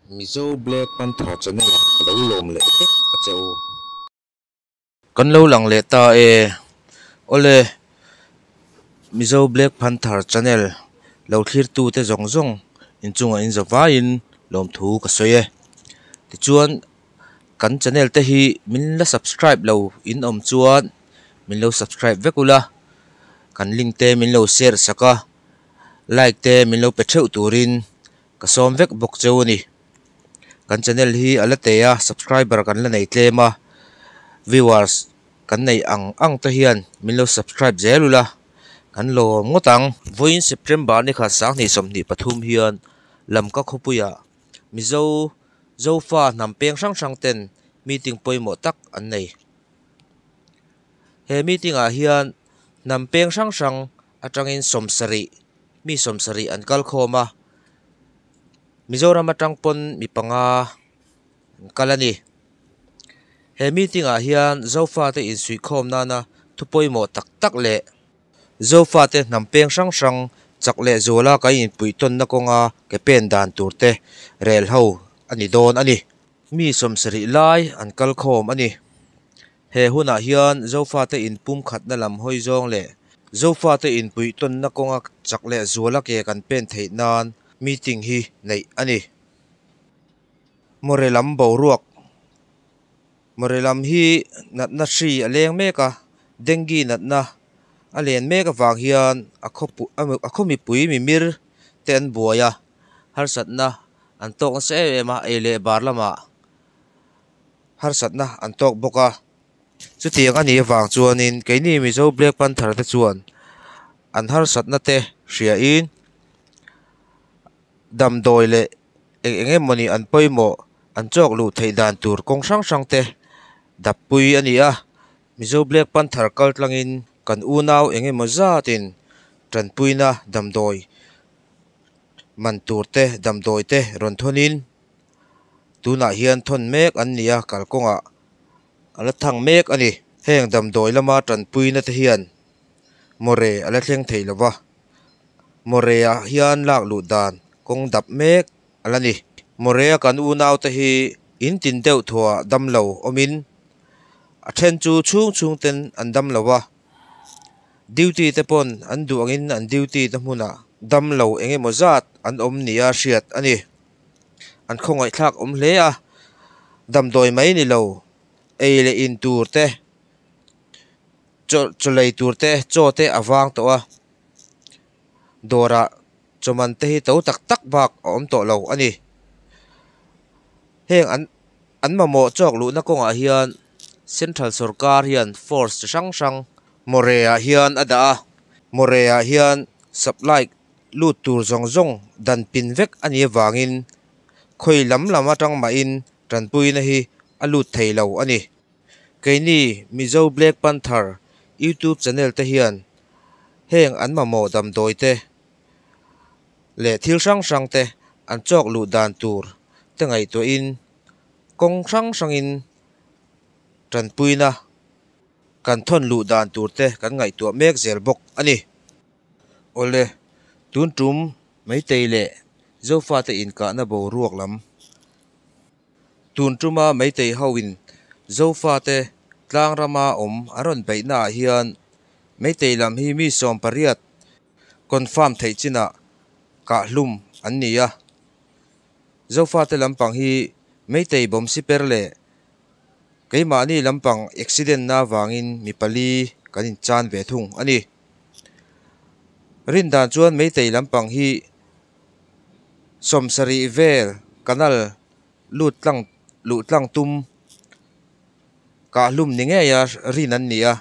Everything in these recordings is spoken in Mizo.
Mizo Black Panther Channel ah ka lo lawm leh vek a che u. Kan lo lang leh ta e. Awle Mizo Black Panther Channel lo thlir tu te zawng zawng in chungah in za vai in lawm thu ka sawi e. Tichuan kan Channel te hi min la subscribe lo in awm chuan min lo subscribe vek ula, kan link te min lo share sak a, like te min lo pe theuh tur in, Ka sawm vek bawk cheu a ni. Kan channel hi a la tei a, subscriber kan la nei tlem a, viewers kan nei ang ang te hian min lo subscribe zel ula, kan lawm ngawt ang. Vawiin September ni kha sanghnih sawmhnih pathum hian lam ka khawpuia Mizo Zofa hnam peng hrang hrang ten meeting pawimawh tak an nei. He meeting ah hian hnam peng hrang hrang Atangin sawmsarih, mi sawmsarih an kal khawm a, Mizoram atang pawn mi panga an kal a ni. He meeting ah hian Zofa te insuih khawm nana thu pawimawh tak tak leh Zofa te hnam peng hrang hrang chak leh zawla kan inpuih tawnna kawnga ke pen dan tur te rel ho a ni dawn a ni. Mi sawmsarih lai an kal khawm a ni. He hunah hian Zofate in pumkhatna lam hawi zawng leh Zofate in puihtawnna kawnga chak leh zuala ke kan pen theih nan meeting hi neih a ni. Mawhrelam boruak, Mawhrelam hi natna hri a leng mek a, Dengue natna a len mek avang hian a khaw mipui mimir te an buai a, harsatna an tawk nasa em em a, ei leh bar lamah harsatna an tawk bawk a, chutiang a nih avang chuanin keini Mizo Black Panther te chuan an harsatna te hriain damdawi leh eng eng emawni an pawimawh an chawk luh theih dan tur kawng hrang hrang te dappui a ni a, Mizo Black Panther kal tlangin kan unau eng emaw zatin tanpuina damdawi man tur te damdawi te rawn thawnin tunah hian thawn mek an ni a kalkawngah a la thang mek a ni heng damdawi lama tanpuina te hian mawre a la thleng thei lo va mawre ah hian lak luh dan kawng dap mek a la ni mawre a kan unau te hi in tin deuh thuah dam lo awmin a then chu chhung chhung ten an dam lo va duty te pawn an duh angin an duty na hmunah damlo eng emaw zat an awm nia hriat a ni. an khawngaihthlak awm hle a damdawi mai ni lo ei leh in tur te chaw chawlei tur te chaw te a vang tawh a dawrah chawman te hi to tak tak bak a awm tawh lo a ni heng an an mamawh chawk luhna kawngah hian central sawrkar hian force chi hrang hrang mawreh ah hian a dah a mawreh ah hian supply -- lut tur zawng zawng dan pin vek a nih avangin khawi lam lam atang mahin tanpuina hi a lut thei lo a ni. Keini Mizo Black Panther YouTube channel te hian heng an mamawh damdawi te leh thil hrang hrang te an chawk luh dan tur te ngaihtuahin kawng hrang hrangin tanpuina kan thawn luh dan tur te kan ngaihtuah mek zel bawk a ni. Awle, tun tum Meitei leh Zofate inkahna boruak lam. Tun tuma Meitei hoin Zofate tlang rama awm an rawn beihnaah hian Meitei lam hi mi sawm pariat confirm theih chinah kahhlum an ni a. Zofate lampang hi Meitei Bawmsiper leh keimahni lampang accident-na vangin mi pali kan inchan ve thung a ni. Rindan chuan Meitei lampang hi sawmsarih vel canal lut tlang luh tlang tum kah hlum ni ngeia rin an ni a,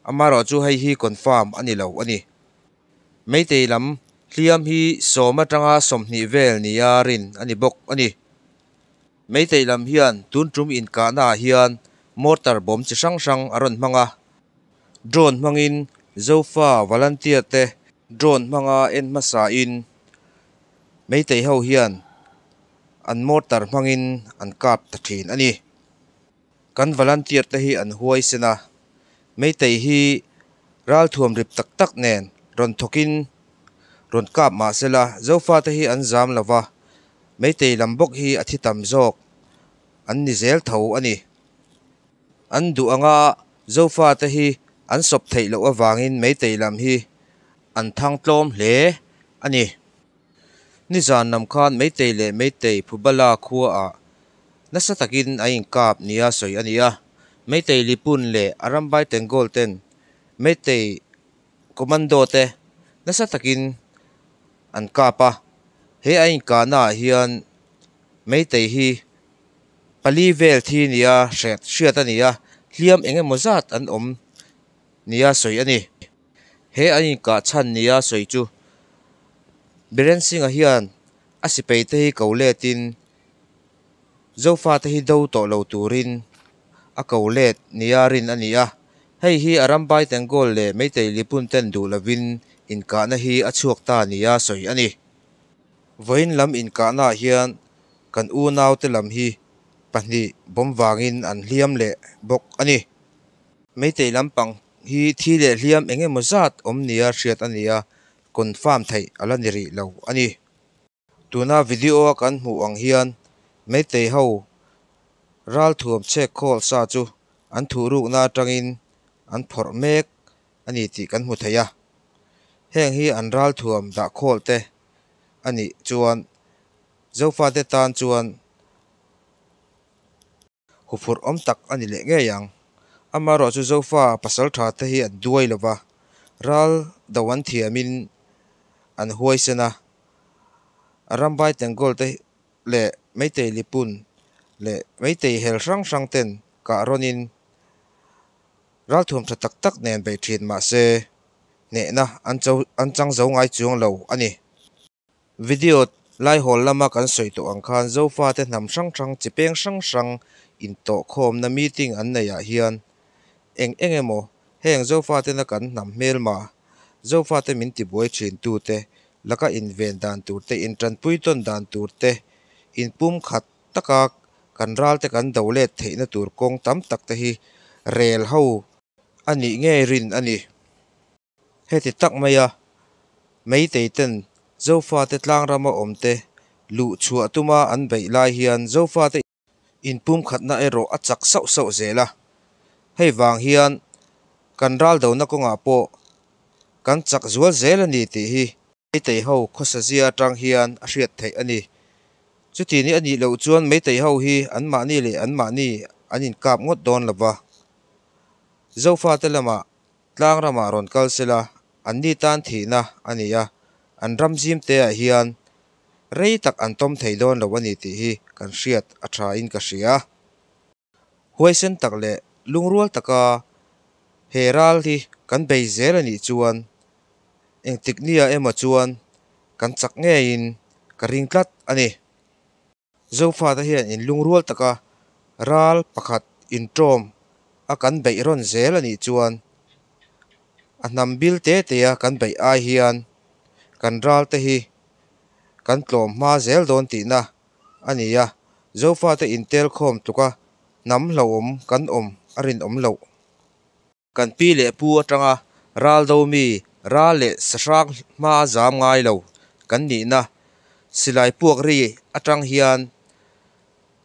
amaherawh chu hei hi confirm a ni lo a ni. Meitei lam hliam hi sawm atanga sawmhnih vel nia rin a ni bawk a ni. Meitei lam hian tun tum inkahna ah hian mortar bawm chi hrang hrang a rawn hmang a. Drone hmangin Zofa volunteer te drone hmanga en hmasa in Meitei ho hian an mortar hmangin an kap ta thin a ni. Kan volunteer te hi an huai sen a, Meitei hi ral thuam rip tak tak nen rawn thawk in rawn kap mah se la Zofa te hi an zam lo va, Meitei lam bawk hi a thi tam zawk an ni zel tho a ni. An duh anga Zofa te hi an sawp theih loh avangin Meitei lam hi an thang tlawm hle a ni. Ni zan lam khan Meitei leh Meitei Phubala khua ah nasa takin an inkap nia sawi a ni a. Meitei Lipun leh a rambai Tengawl ten Meitei Commando te nasa takin an kap a. He an inkahna ah hian Meitei hi pali vel thi nia hriat hriat a ni a, hliam eng emaw zat an awm nia sawi a ni. He an inkah chhan nia sawi chu. Biren Singha hian a sipeite hi ko letin Zofate hi do tawh lo turin a ko let nia rin a ni a. Hei hi a ram Baitengawl leh Meitei Lipun ten duh lovin inkahna hi a chhuak ta nia sawi a ni. Vawiin lam inkahnaah hian kan unaute lam hi pahnih bawm vangin an hliam leh bawk a ni. Meitei lampang Hi thi leh hliam eng emaw zat awm nia hriat a nia confirm theih a la ni rih lo a ni. Tuna video a kan hmuh ang hian Meitei ho ral thuam chhek calls-a chu an thuh rukna atangin an phawrh mek a ni tih kan hmu thei a. Heng hi an ral thuam dah call te a nih chuan Zofate tan chuan, Huphurh awm tak a ni leh ngei ang. Amaherawh chu Zofa pasal tha te hi an duai lo va, ral do an thiamin an huaisen a. Rambai Tenggol te leh Meitei Lipun leh Meitei hel hrang hrang ten kah rawnin ralthuam tha tak tak nen bei thin mahse, hnehna an chang zo ngai chuang lo a ni. Video, Laihawl lama kan sawi tawh ang khan Zofate hnam hrang hrang, chi peng hrang hrang intawh khawmna meeting an neiah hian eng eng emaw heng Zofatena kan hnam hmel mah Zofate min tibuai thintu te, laka inven dan tur te, intanpui tawn dan tur te, inpum khat taka kan ral te kan do let theihna tur kawng tam tak te hi rel ho a nih ngei rin a ni. Heti tak mai a, Meitei ten Zofa te tlang ram a awm te luh chhuah tuma an beih lai hian Zofa te in pumkhatna erawh a chak sauh sauh zel a. Hei vang hian kan ral do na kawngah pawh kan chak zual zel a ni tih hi Meitei ho khawsa zia atang hian a hriat theih a ni. Chuti ni a nih loh chuan Meitei ho hi an mahni leh an mahni an inkap ngawt dawn lova Zofa te lamah Tlang ramah rawn kal se la, an ni tan thihna a ni a, an ram zim teah hian rei tak an tawm thei dawn lo a ni tih hi kan hriat a tha in ka hria. Huaisen tak leh lungrual taka he ral hi kan bei zel a nih chuan engtik nia emaw chuan kan chak ngeiin ka ring tlat a ni. Zofa te hian in lungrual taka ral pakhat intawm a kan beih rawn zel anih chuan a hnam bil te te a kan beih ai hian kan ral te hi kan tlawm hma zel dawn tihna a ni a, Zofa te intel khawm tluka hnam hlauhawm kan awm a rinawm loh. Kan pi leh pu atanga ral do mi ra leh sahrang hma zam ngai lo kan nihna silai puak ri atang hian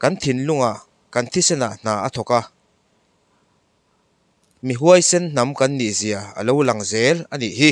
kan thinlunga kan thisenah hna a thawk a, mi huaisen hnam kan nihzia a lo lang zel a nih hi.